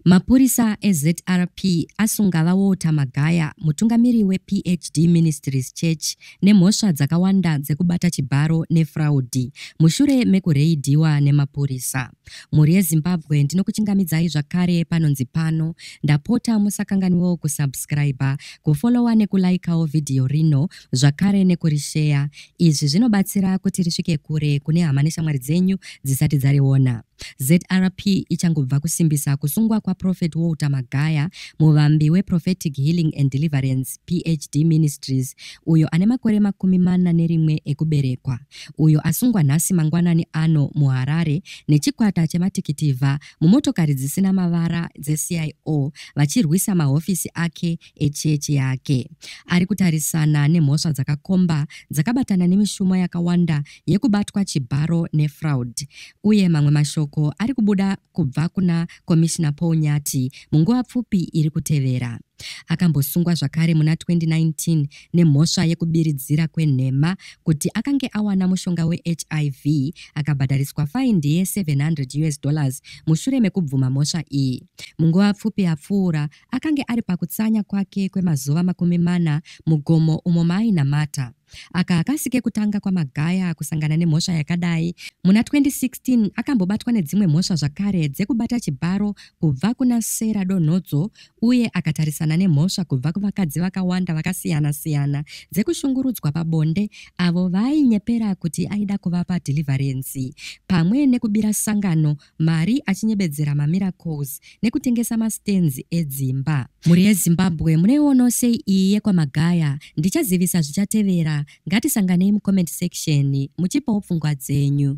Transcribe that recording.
Mapurisa eZRP asunga VaWalter Magaya, mutungamiri wePHD Ministries Church, nemhosva dzakawanda dzekubata chibharo nefraudhi mushure mekureidhiwa nemapurisa. Mhuri yeZimbabwe ndinokuchingamidzai zvakare panonzi pano. Ndapota musakanganwewo kusubscriber, kufollowa nekulaikawo vhidhiyo rino zvakare nekurisheya. Izvi zvinobatsira kuti risvike kure kune hama neshamwari dzenyu dzisati dzariona. ZRP ichangobva kusimbisa kusungwa kwaProphet Walter Magaya, muvambi weProphetic Healing and Deliverance, PHD Ministries, uyo ane makore makumi mana nerimwe ekuberekwa, uyo asungwa nhasi mangwanani ano muHarare nechikwata chematikitivha mumotokari dzisina mavara dzeCIO vachirwisa mahofisi ake echechi yake. Ari kutarisana nemhosva dzakakomba dzakabatana nemishumo yakawanda yekubatwa chibharo nefraud uye mamwe mashoko ari kubuda kubva kuna Komishina Paul Nyati munguva pfupi iri kutevera. Akambosungwa zvakare muna 2019 nemhosva yekubiridzira kwenhema kuti akange awana mushonga weHIV akabhadhariswa faindi ye 700 US dollars mushure mekubvuma mhosva iyi. Munguva pfupi yapfuura, Akange ari pakutsanya kwake kwemazuva makumi mana mugomo umo maainamata. Aka hakasi kekutanga kwaMagaya kusangana nemhosva yakadai. Muna 2016 akambobatwa nedzimwe mhosva zvakare dzekubata chibharo kubva kuna Sarah Donhodzo uye akatarisana nemhosva kubva kuvakadzi vakawanda vakasiyana-siyana dzekushungurudzwa pabonde avo vaainyepera kuti aida kuvapa dhilivharenzi pamwe nekubira sangano mari achinyebedzera mamiracles nekutengesa mastands edzimba. Mhuri yeZimbabwe munoionawo sei iyi yekwaMagaya? Ndichazivisa zvichatevera, ngatisanganei mucomment section muchipawo pfungwa dzenyu.